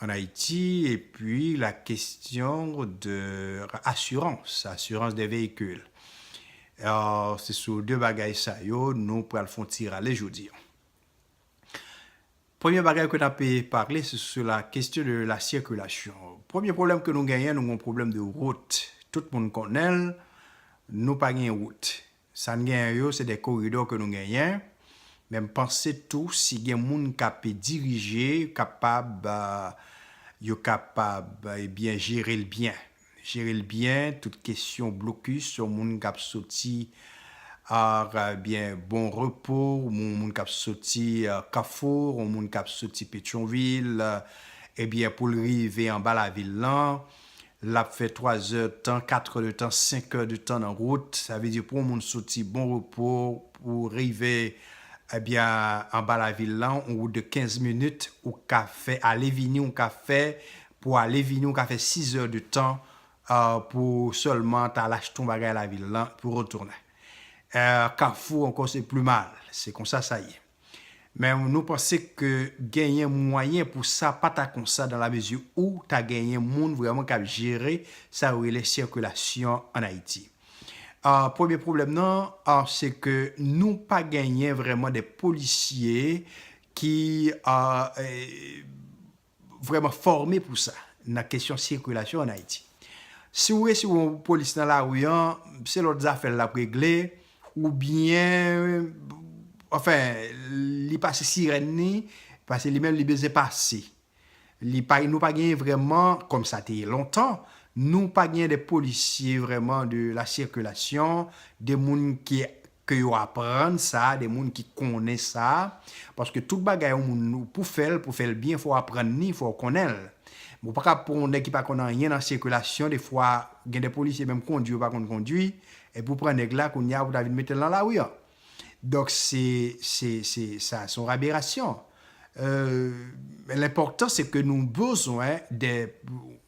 an Ayiti epi la kestyon de asirans, asirans de veyikil. Se sou 2 bagay sa yo nou pral fon ti rale jodi an. Premye bagay ke nape pale se sou la kestyon de la sikilasyon. Premye pwoblèm ke nou genyen nou gen yon pwoblèm de wout. Tout moun konnen l, nou pa gen wout. Sa n genyen yo se de koridò ke nou genyen, men m panse tou si gen moun k ape dirije kapab yo kapab ebyen jere l byen, jere l byen tout kesyon blokis yon moun k ap soti ar ebyen Bon Repo, yon moun k ap soti Kafou, yon moun k ap soti Petyonvil ebyen pou l rive anba lavil lan Lap fè 3 zè tan, 4 è de tan, 5 è de tan nan wout, sa vle di pou yon moun soti Bon Repo pou rive ebyen anba lavil lan, yon wout de 15 minit, ou ka fè ale vini, ou ka fè pou ale vini ou ka fè 6 zè de tan pou sèlman ta al achte yon bagay lavil lan pou retounen. Kafou ankò se pli mal, se konsa sa ye. Men nou panse ke genyen mwayen pou sa pa ta konsa dan la mezi ou ta genyen moun vreman kap jere sa yo rele sikilasyon an Ayiti. Premye pwoblèm nan se ke nou pa genyen vreman de polisye ki vrèman fòme pou sa nan kesyon sikilasyon an Ayiti. Si w resi wè yon polis nan lari an, se lòt zafè l l ap regle oubyen anfen li pase sirèn li pase li menm li bezwen pase. Li pa nou pa genyen vrèman kòm sa te ye lontan, nou pa genyen de polisye vrèman de la sikilasyon, de moun ki ke yo aprann sa de moun ki konnen sa, paske tout bagay yon moun pou fèl, pou fèl byen fòw aprann ni, fòw konnenl. Ou pa kab pran yon nèg ki pa konn anyen nan sikilasyon de fwa gen de polisye menm kondwi yo pa konn kondwi, epi ou pran nèg la kounye a ou ta vin metel nan lari an. Donk se se se sa se yon aberasyon. Eeuh lènpòtan se ke nou bezwen de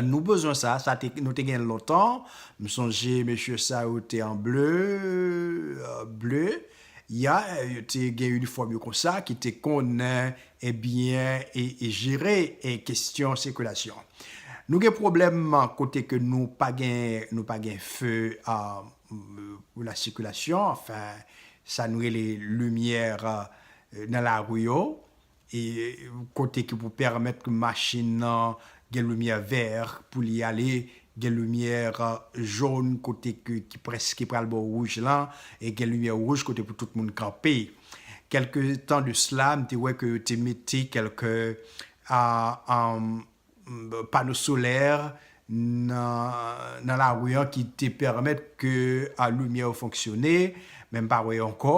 Nou bezwen sa, sa te nou te gen lontan, m sonje mesye sa yo te an ble, ble, ya, yo te gen inifòm yo konsa ki te konnen ebyen e jere e kesyon sikilasyon. Nou gen pwoblèm kote ke nou pa gen, nou pa gen feu pou la sikilasyon, anfen sa nou rele limyè nan lari yo, E kote ki pou pèmèt machin nan gen limyè vè pou li ale, gen limyè jòn kote ki prèske pral bò wouj lan, e gen limyè wouj kote pou tout moun kanpe. Kèlke tan de sla, m te wè ke yo te mete kèlke pano solè nan lari an ki te pèmèt ke limyè yo fonksyone, men m pa wè yo ankò.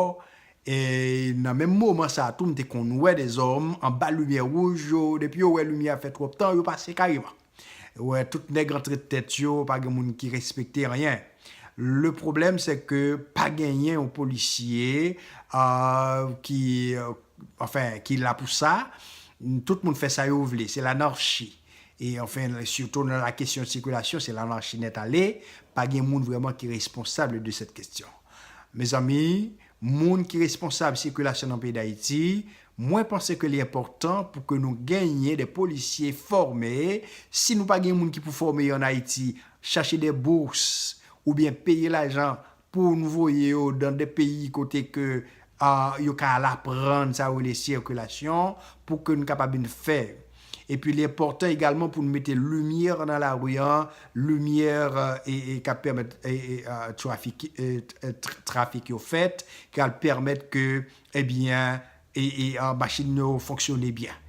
E nan menm moman sa a tou, m te konn wè de zòm anba limyè wouj yo, depi yo wè limyè a fè twòp tan, yo pase kareman. Ou wè tout nèg antre tèt yo, pa gen moun ki respekte anyen. Le pwoblèm se ke pa genyen yon polisye ki anfen ki la pou sa, tout moun fè sa yo vle, se lanarchi, e anfen sitou nan la kesyon de sikilasyon se lanarchi nèt ale, pa gen moun vrèman ki responsable de sèt kestyon. Mezanmi, moun ki responsable sikilasyon nan peyi Dayiti, mwen panse ke li enpòtan pou ke nou genyen de polisye fòme, si nou pa gen moun ki pou fòme yo an Ayiti, chache de bourse, oubyen peye lajan pou nou voye yo dan de peyi kote ke yo ka al aprann sa yo rele sirkulasyon pou ke nou kapab vin fè epi li enpòtan egalman pou nou mete limyè nan lari an, limyè kap pèmèt trafik yo fèt, kap pèmèt ke ebyen E machin yo fonksyone byen.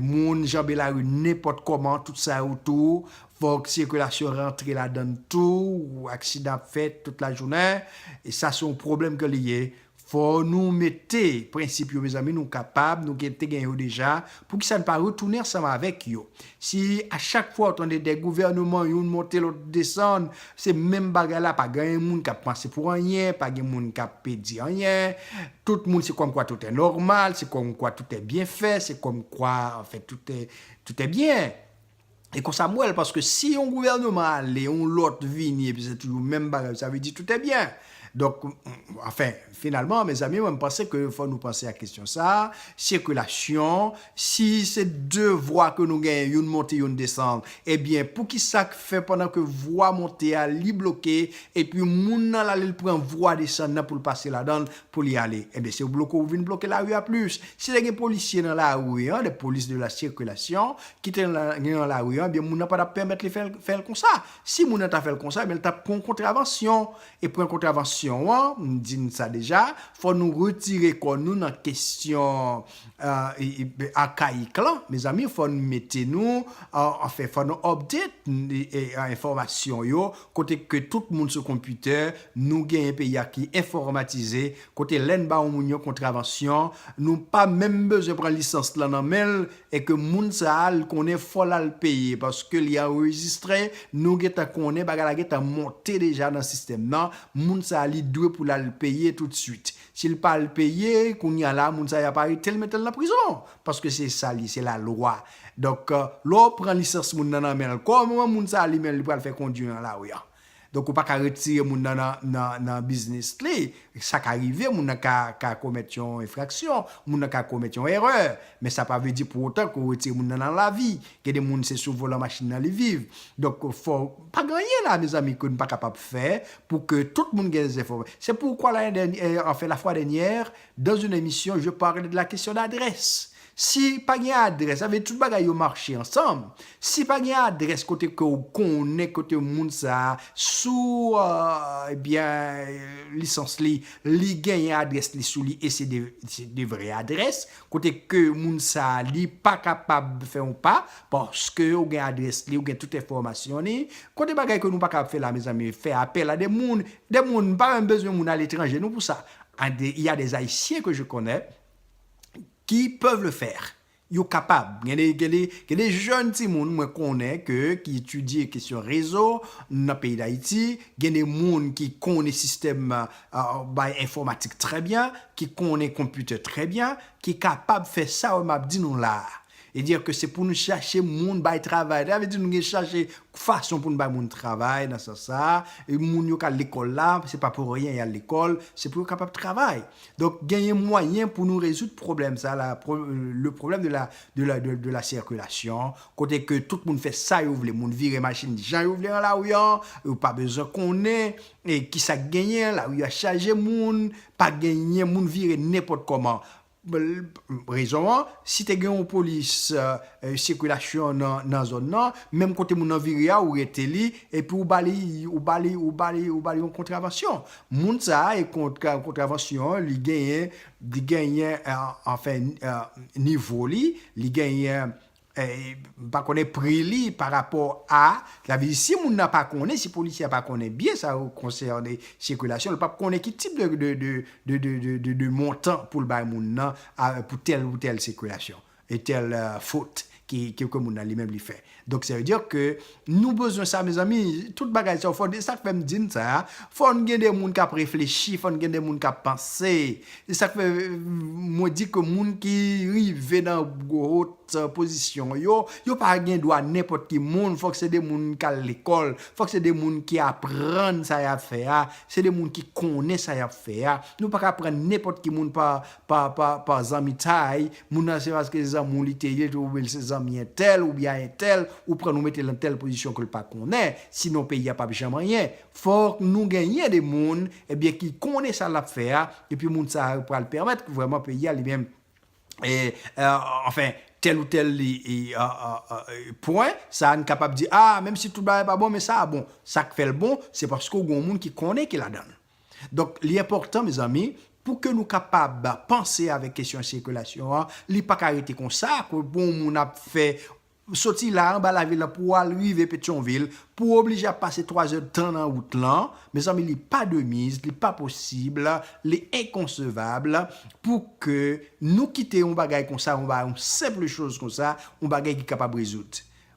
Moun janbe lari nenpòt kòman, tout sa yo tou, fòk sikilasyon rantre ladann tou, aksidan ap fèt tout lajounen, e sa se yon pwoblèm ke li ye. Fò nou mete prensip yo mezanmi, nou kapab, nou te gen yo deja, poukisa nou pa retounen ansanm avèk yo? Si a chak fwa ou tande de gouvèneman youn monte lòt desann se menm bagay la pa ganyen moun kap panse pou anyen pa gen moun kap di anyen tout moun se kòmkwa toutè nòmal se kòmkwa toutè byen fè se kòmkwa anfen toutè toutè byen e konsa m wèl paske si yon gouvèneman ale yon lòt vini epi se toujou menm bagay sa vle di toutè byen. Donk, anfen, finalman, mezanmi, mwen m panse ke fò nou panse ak kesyon sa, sikilasyon, si se 2 vwa ke nou genyen, youn monte, youn desann, ebyen, poukisa k fè pandan ke vwa monte a li bloke, epi moun nan l ale l pran vwa desann nan pou l pase ladan l, pou li ale? Ebyen, se w bloke w vin bloke lari a plis. Si te gen polisye nan lari an, des polices de la circulation, ki te nan lari an, ebyen moun nan pa t ap pèmèt li fè l, fè l konsa. Si moun nan ta fè l konsa, ebyen l t ap pran yon kontravansyon. E pran kontravansyon an, m di n sa deja, fò nou retire kò nou nan kesyon arkayik lan. Mezanmi, fò n mete nou, anfen, fò nou update enfòmasyon yo, kote ke tout moun sou konpitè, nou gen yon peyi a ki enfòmatize, Kote lè n ba yon moun yon kontravansyon, nou pa menm bezwen pran lisans lan nan men l e ke moun sa a l konnen fò l al peye paske li anrejistre, nou gentan konnen bagay la gentan monte deja nan sistèm nan, moun sa a li dwe pou l al peye toutswit. Si l pa al peye, kounye a la moun sa a y ap arete l mete l nan prizon paske se sa l ye, se lalwa. Donk lè w pran lisans moun nan nan men l, kòman moun sa a li menm li pral fè kondwi nan lari an? Donk ou pa ka retire moun nan nan biznis li. Sa ka rive, moun nan ka komèt yon enfraksyon, moun nan ka komèt yon erè, men sa pa vle di pou otan ke ou retire moun nan nan lavi. Gen de moun se sou volan machin nan li viv. Donk fò, pa gen anyen la mezanmi ke nou pa kapab fè pou ke tout moun gen enfòm. Se poukwa lane dènyè, anfen la fwa dènyè, dans une émission je parlais de la question d'adresse. Si pa gen adrès, sa vle di tout bagay yo mache ansanm. Si pa gen adrès kote ke ou konnen kote moun sa a sou ebyen lisans li, li genyen adrès li sou li e se de vrè adrès, kote ke moun sa a li pa kapab fè yon pa, paske ou gen adrès li, ou gen tout enfòmasyon li, kote bagay ke nou pa kapab fè la mezanmi, fè apèl a de moun, de moun, m pa menm bezwen moun aletranje non pou sa, il y a des Haïtiens que je connais, ki peuvent le faire. Yo kapab. Gen de, gen de, gen de jèn timoun mwen konnen ke ki etidye kesyon rezo nan peyi Dayiti, gen de moun ki konnen sistèm bay enfòmatik trè byen, ki konnen konpitè trè byen, ki kapab fè sa yo m ap di nou la a. E dire ke se pou nou chache moun bay travay. Sa vle di nou gen chache fason pou nou bay moun travay nan sans sa a. E moun yo k al lekòl la, se pa pou anyen y al lekòl, se pou yo kapab travay. Donk genyen mwayen pou nou rezoud pwoblèm sa la, le problème de la, de la, de la circulation, kote ke tout moun fè sa yo vle, moun vire machin jan yo vle nan lari an, yo pa bezwen konnen e kisa k genyen, lari a chaje moun, pa genyen, moun vire nenpòt kòman. Rezon an, si te gen yon polis sikilasyon nan zòn nan, menm kote moun nan vire a ou rete li, epi ou ba li, ou ba li, ou ba li, ou ba li yon kontravansyon. Moun sa a, kontravansyon li genyen, li genyen anfen nivo li, li genyen M pa konnen pri li pa rapò a, sa vle di si moun nan pa konnen, si polisye a pa konnen biyè sa yo konsène sikilasyon, li pap konnen ki tip de montan pou l bay moun nan pou tèl ou tèl sikilasyon, e tèl fot ke moun nan li menm li fè. Donk sa vle di ke Nou bezwen sa mezanmi, tout bagay sa yo fò, e sak fèm di n sa, fòn gen de moun kap reflechi, fòn gen de moun kap panse, e sak fè mwen di ke moun ki rive nan gwo haut pozisyon yo, yo pa gen dwa nenpòt ki moun, fòk se de moun ki al lekòl, fòk se de moun ki aprann sa yap fè a, se de moun ki konnen sa yap fè a, nou paka pran nenpòt ki moun pa pa pa zanmitay moun nan se paske se zanmi w li te ye ou byen l se zanmi entèl ou byen a entèl ou pran l ou mete l nan tèl pozisyon ke l pa konnen sinon peyi a pap janm anyen fòk nou genyen de moun ebyen ki konnen sa lap fè a epi moun sa yo pral pèmèt ke vrèman peyi a li menm anfen tèl ou tèl pwen sa n kapab di a menm si tout bagay pa bon men sa a bon sak fè l bon se paske w gen yon moun ki konnen ki ladan l. Donk li enpòtan mezanmi pou ke nou kapab panse avèk kesyon sikilasyon an, li pa ka rete konsa pou yon moun ap fè, soti la anba lavil la pou al rive Petyonvil, pou oblije ap pase 3 zè tan nan wout lan, mezanmi li pa de miz, li pa posib, li enkonsevab pou ke nou kite yon bagay konsa, yon senpl choz konsa, yon bagay ki kapab rezoud.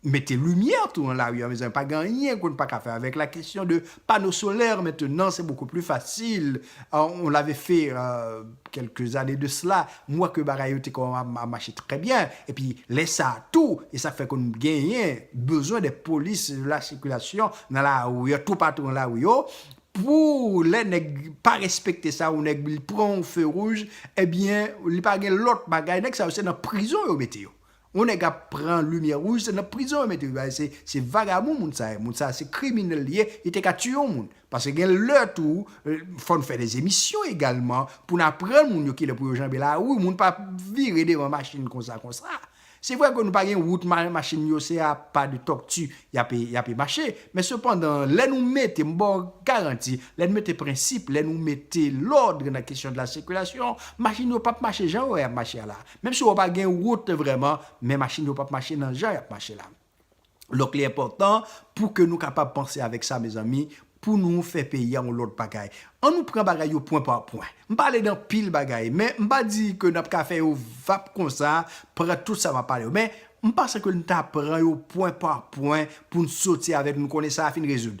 Mete limyè tou nan lari an mezanmi pa gen anyen ke nou pa ka fè avèk la kesyon de pano solaire mentenan se beaucoup plus facile on l'avait fait quelques années de cela m wè ke bagay yo te kòmanm ap mache trè byen epi lè sa tou e sa fè ke nou genyen bezwen de polis de la circulation nan lari yo tou patou nan lari yo pou lè nèg pa respekte sa ou nèg li pran yon feu rouge ebyen li pa gen lòt bagay nèg sa yo se nan prizon yo mete yo Yon nèg ap pran limyè rouj se nan prizon yo mete li se vagabon moun sa ye moun sa se kriminèl li ye li te ka tiye yon moun paske gen lè tou fò n fè des emisyon egalman pou n aprann moun yo ki lè pou yo janbe lari moun pa ap vire devan machin konsa konsa se vre ke nou pa gen wout machin yo se a pa de tòkti y ape y ape mache men sepandan lè nou mete m ba w garanti lè n mete prensip lè nou mete lòd nan kesyon de la sikilasyon machin yo p ap mache jan yo wè y ap mache a la. Menm si wè w pa gen wout vrèman, men machin yo p ap mache nan jan y ap mache la. Donk li enpòtan pou ke nou kapab panse avèk sa mezanmi, pou nou fè peyi a yon lòt bagay. An nou pran bagay yo pwen pa pwen. M pale de anpil bagay, men m pa di ke n ap ka fè yo vap konsa, pran tout sa m ap pale yo. Men, m panse ke n ta pran yo pwen pa pwen pou n soti avèk, nou konnen sa a fin rezoud.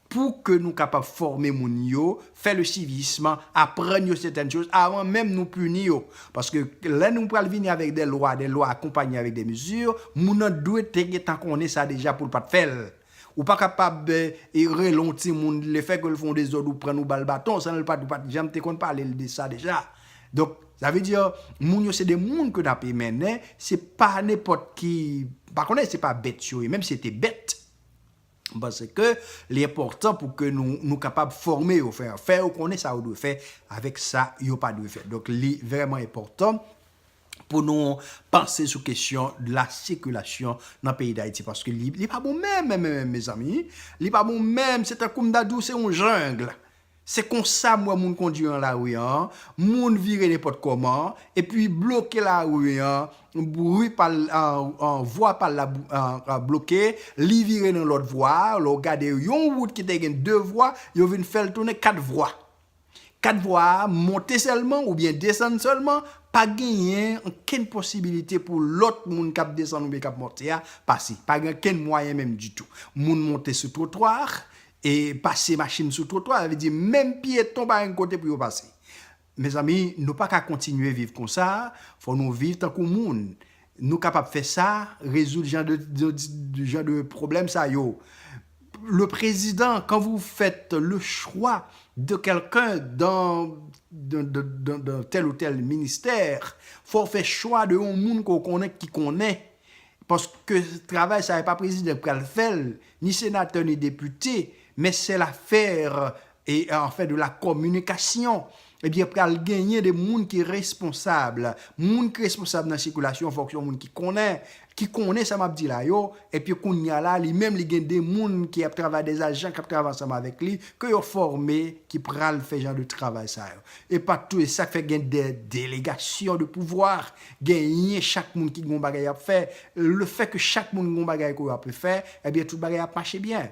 Pou ke nou kapab fòme moun yo, fè le civisme, aprann yo sètèn choz avan menm nou pini yo. Paske lè nou pral vini avèk dè lwa, dè lwa akonpanye avèk dè mezi, moun nan dwe te gen tan konnen sa deja pou l pa t fè l. Ou pa kapab rele yon timoun, le fè ke l fè yon dezòd ou pran l ou ba l baton san l pa t ou pa t janm te konn pale l de sa deja. Donk, sa vle di moun yo se de moun ke n ape mennen, se pa nenpòt ki, m pa konnen se pa bèt yo ye, menm si se te bèt. M panse ke li enpòtan pou ke nou nou kapab fòme yo, fè fè yo konnen sa yo dwe fè avèk sa yo pa dwe fè. Donk li vrèman enpòtan pou nou panse sou kesyon la sikilasyon nan peyi Dayiti paske li pa bon menm menm menm mezanmi. Li pa bon menm se tankou m ta di w se yon jungle. Se konsa m wè moun kondwi an lari an, moun vire nenpòt kòman, epi bloke lari an, bri pa l, vwa pa l la bloke, li vire nan lòt vwa a, lè w gade yon wout ki te gen 2 vwa, yo vin fè l tounen 4 vwa. 4 vwa a monte sèlman oubyen desann sèlman, pa genyen ankenn posibilite pou lòt moun k ap desann oubyen k ap monte a pase, pa gen ankenn mwayen menm ditou. Moun monte sou twotwa a, E pase machin sou twotwa, sa vle di menm pyeton pa gen kote pou yo pase. Mezanmi, nou pa ka kontinye viv konsa, fò nou viv tankou moun. Nou kapab fè sa, rezoud jan de jan de pwoblèm sa yo. Le prezidan, kan vou fèt le chwa de kèlken dan dan tèl ou tèl ministè, fò w fè chwa de yon moun ke w konnen ki konnen. Paske travay sa e pa prezidan ki pral fè l, Ni senatè ni depite, men sè lafè e an fè de la kominikasyon, ebyen pral genyen de moun ki responsab, moun ki responsab nan sikilasyon an fòk se yon moun ki konnen, ki konnen sa map di la yo, epi kounya la li menm li gen de moun ki ap travay de ajan kap travay ansanm avèk li ke yo fòme ki pral fè jan de travay sa yo. Epa tou e sak fè gen de delegasyon de pouvoir Genyen chak moun ki gen yon bagay yap fè, le fè ke chak moun gen yon bagay ke yo ape fè, ebyen tout bagay ap mache byen.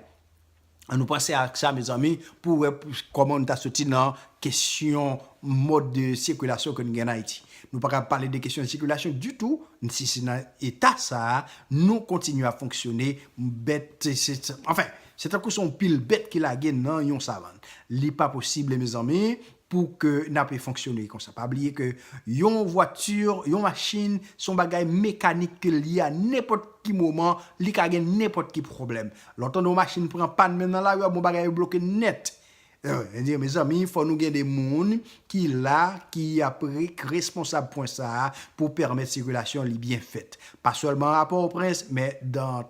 An nou panse ak sa mezanmi pou wè kòman nou ta soti nan kesyon mòd de sikilasyon ke nou gen an Ayiti. Nou pa ka pale de kesyon sikilasyon ditou si se nan eta sa a nou kontinye ap fonksyone bèt se anfen se tankou se yon pil bèt ki lage nan yon savann. Li pa posib mezanmi pou ke na pe fonksyone konsa. Pa bliye ke yon voiture, yon machine, son bagay mekanik ke li a nenpot ki moman li ka gen nenpot ki pwoblem. Le w tande yon machine pran pann menm nan lari a bon bagay yo bloke net. Mwen di mezanmi fo nou gen de moun ki la ki ap responsab pwen sa pou permet sikilasyon li byen fet. Pa selman a Port-au-Prince men dan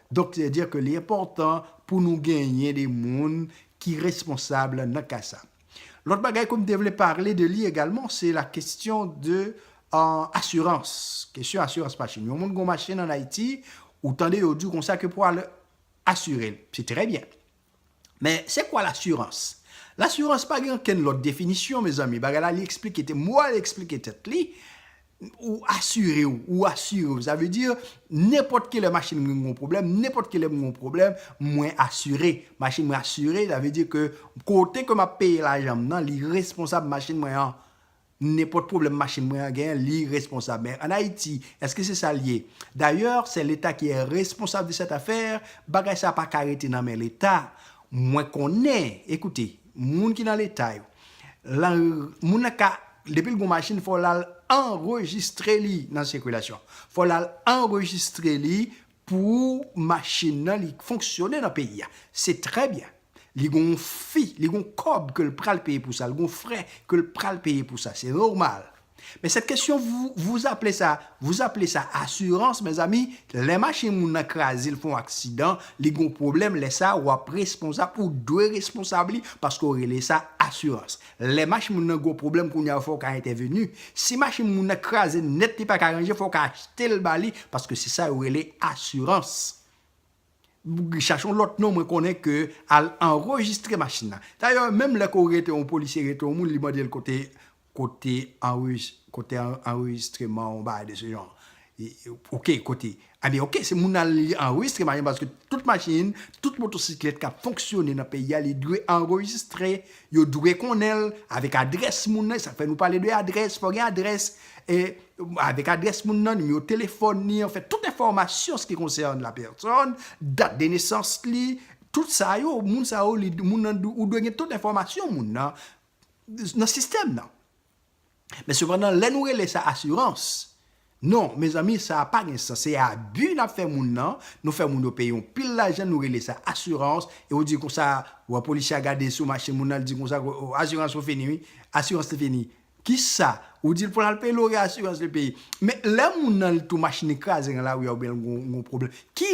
Donk se dire ke li enpòtan pou nou genyen de moun ki responsab nan ka sa. Lòt bagay ke m te vle parle de li egalman se la kestyon de asirans, kestyon asirans machin. Yon moun gen yon machin an Ayiti, ou tande yo di w konsa ke pou al asire l. Se trè byen. Men se kwa lasurans? Lasurans pa gen ankenn lòt definisyon mezanmi, bagay la li eksplike te mwa li eksplike tèt li, ou asire w, ou asire w, sa vle di nenpòt kilè machin mwen gen yon pwoblèm, nenpòt kilè mwen gen yon pwoblèm, mwen asire, machin mwen asire, sa vle di ke kote ke m ap peye lajan m nan li responsab machin mwen an, Nenpòt pwoblèm machin mwen an gen, li responsab. Men an Ayiti, èske se sa l ye? Dayè, sè Leta ki è responsab de sèt afè, bagay sa a pa ka rete nan men Leta. Mwen konnen, ekoute, moun ki nan Leta yo, la, moun nan ka, depi l gen yon machin, fò l al anrejistre li nan sikilasyon. Fò l al anrejistre li Pou machine nan li k fonksyone nan peyi a se trè byen li gon yon fi li gon kòb ke l pral peye pou sa l gon frè ke l pral peye pou sa se nòmal men sèt kesyon vou vous aple sa vous aple sa asirans mezanmi lè machine moun nan kraze l fè yon aksidan li gon pwoblèm lè sa wap responsab ou dwe responsab li paske w rele sa asirans Lè machin moun nan gwo pwoblèm kounye a ou fè ou ka entèveni. Si machin moun nan kraze nèt li pa ka ranje fè ou ka achte l ba li paske se sa yo rele asirans. Chache yon lòt non mwen konnen ke al anrejistre machin nan. Dayè menm lè ke ou rete yon polisye rete yon moun li mande l kote kote anrejis kote anrejistreman ou bagay de se jan. Ok kote Ebyen ok se moun al li anrejistre machin paske tout machin tout motosiklèt kap fonksyone nan peyi a li dwe anrejistre yo dwe konnenl avèk adrès moun nan esak fè nou pale de adrès fò gen adrès e avèk adrès moun nan nimewo telefòn ni an fèt tout enfòmasyon ski konsène la pèsòn dat de nesans li tout sa yo moun sa yo li moun nan ou dwe gen tout enfòmasyon moun nan nan sistèm nan. Men sepandan lè nou rele sa asirans, non mezanmi sa pa gen sans, se abi nap fè moun nan, nou fè moun yo peye yon pil lajan nou rele sa asirans e ou di konsa wè polisye a gade sou machin moun nan li di konsa asirans ou fini wi, asirans li fini. Kisa? Ou dil pou lal peye lori asirans li peye. Men lè moun nan li tou machin li kraze nan lari a oubyen l gon pwoblèm ki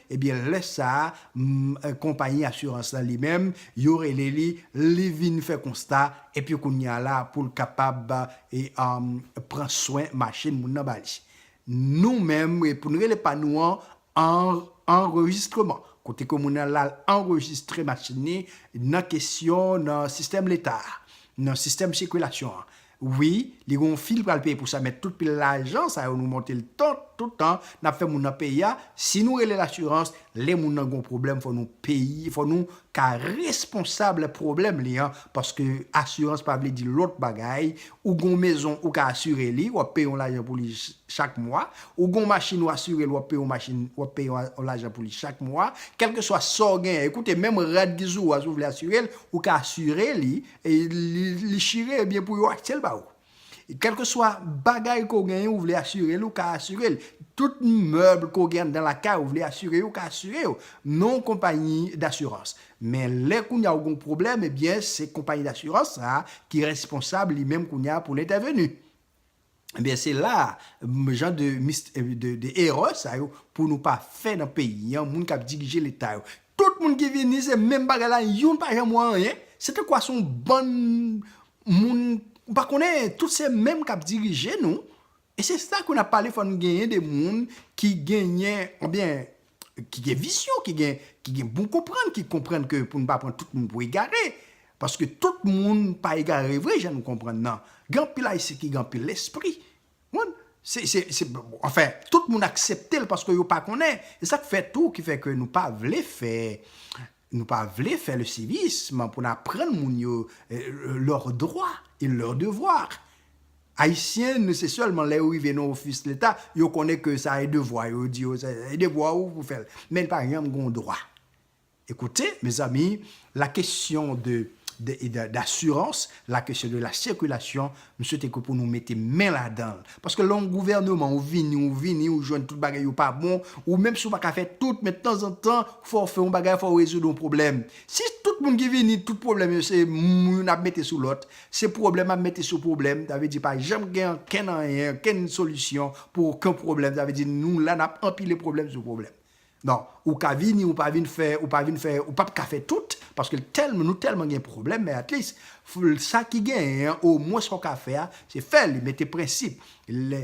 Ebyen lè sa a konpayi asirans lan li menm yo rele li, li vin fè konsta epi kounye a la pou l kapab pran swen machin moun nan ba li. Nou menm pou n rele pa nou an anrejistreman, kote ke moun nan la l anrejistre machin ni nan kesyon nan sistèm leta a, nan sistèm sikilasyon an. Wi li gen yon fi li pral peye pou sa men tout pil lajan sa yo nou monte l tant tout tan nap fè moun nan peye a si nou rele l asirans lè moun nan gen yon pwoblèm fò nou peye fò nou ka responsab pwoblèm li an paske asirans pa vle di lòt bagay ou gen yon mezon ou ka asire li wap peye yon lajan pou li chak mwa ou gen yon machin ou asire l wap peye yon machin wap peye yon lajan pou li chak mwa kèlkeswa sa w genyen koute menm rad gizou a si w vle asire l ou ka asire li E li chire e byen pou yo achte l ba ou. Kèlkeswa bagay ke w genyen ou vle asire l ou ka asire l. Tout mèb ke w gen anndan lakay ou vle asire yo ou ka asire yo. Non konpayi dasirans. Men lè kounye a ou gen yon pwoblèm e byen se konpayi dasirans sa ki responsab li menm kounye a pou l entèveni. Ebyen se la a jan de mis de erè sa yo pou nou pa fè nan peyi an moun kap dirije leta yo tout moun ki vini se menm bagay la youn pa janm wè anyen se tankou a son bann moun ou pa konnen tout se menm kap dirije nou e se sa ke nap pale fò nou genyen de moun ki genyen ebyen ki gen vizyon, ki gen bon konprann, ki konprann ke pou nou pa pran tout moun pou egare, paske tout moun pa egare vre jan nou konprann nan. Gen anpil Ayisyen ki gen anpil lespri. Anfen, tout moun aksepte l paske yo pa konnen. E sa k fè tou ki fè ke nou pa vle fè, nou pa vle fè le sivism pou n aprann moun yo lè dwa e lè devwa. Ayisyen nou se sèlman lè yo rive nan ofis leta yo konnen ke sa e devwa yo, yo di yo se e devwa ou pou fèl men li pa janm gon dwa. E kote mezanmi la kesyon de d'assurance, la kesyon de la circulation m swete ke pou nou mete men ladanl paske lè yon gouvèneman ou vini ou vini ou jwenn tout bagay yo pa bon ou menm si ou pa ka fè tout men tanzantan fò w fè yon bagay fò w rezoud yon pwoblèm si tout moun ki vini tout pwoblèm yo se moun ap mete sou lòt Se pwoblèm ap mete sou pwoblèm, sa vle di pa janm gen ankenn anyen, ankenn solisyon pou oken pwoblèm, sa vle di nou la nap anpile pwoblèm sou pwoblèm. Donk, ou ka vini ou pa vin fè, ou pa vin fè, ou pap ka fè tout, paske l tèlman, nou tèlman gen pwoblèm, men atlis, sa ki genyen an, omwen sa w ka fè a, se fè li, mete prensip, lè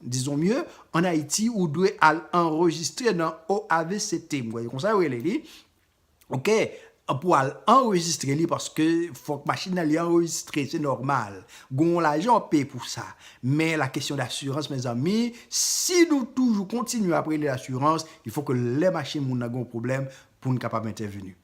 Disons mieux, en Haïti, ou dwe al anrejistre nan OAVCT, m kwè se konsa yo rele li, ok, pou al anrejistre li paske fòk machin nan li anrejistre, se nòmal. Gon yon lajan w ap peye pou sa. Men la question d'assurance mezanmi, si nou toujou kontinye ap rele l asirans, il faut que lè machin moun nan gen yon pwoblèm, pou n kapab entèveni.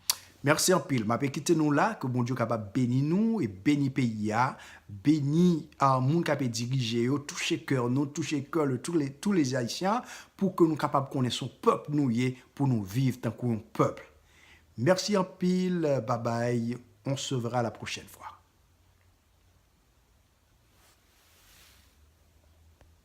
Merci anpil mape kite nou la ke bondye kapab beni nou e beni peyi a beni moun kape dirije yo touche keur nou touche keur le tou le tou les haitian pou ke nou kapab konnen son pèp nou ye pou nou viv tankou yon pèp merci anpil babay on se verra la prochaine fois.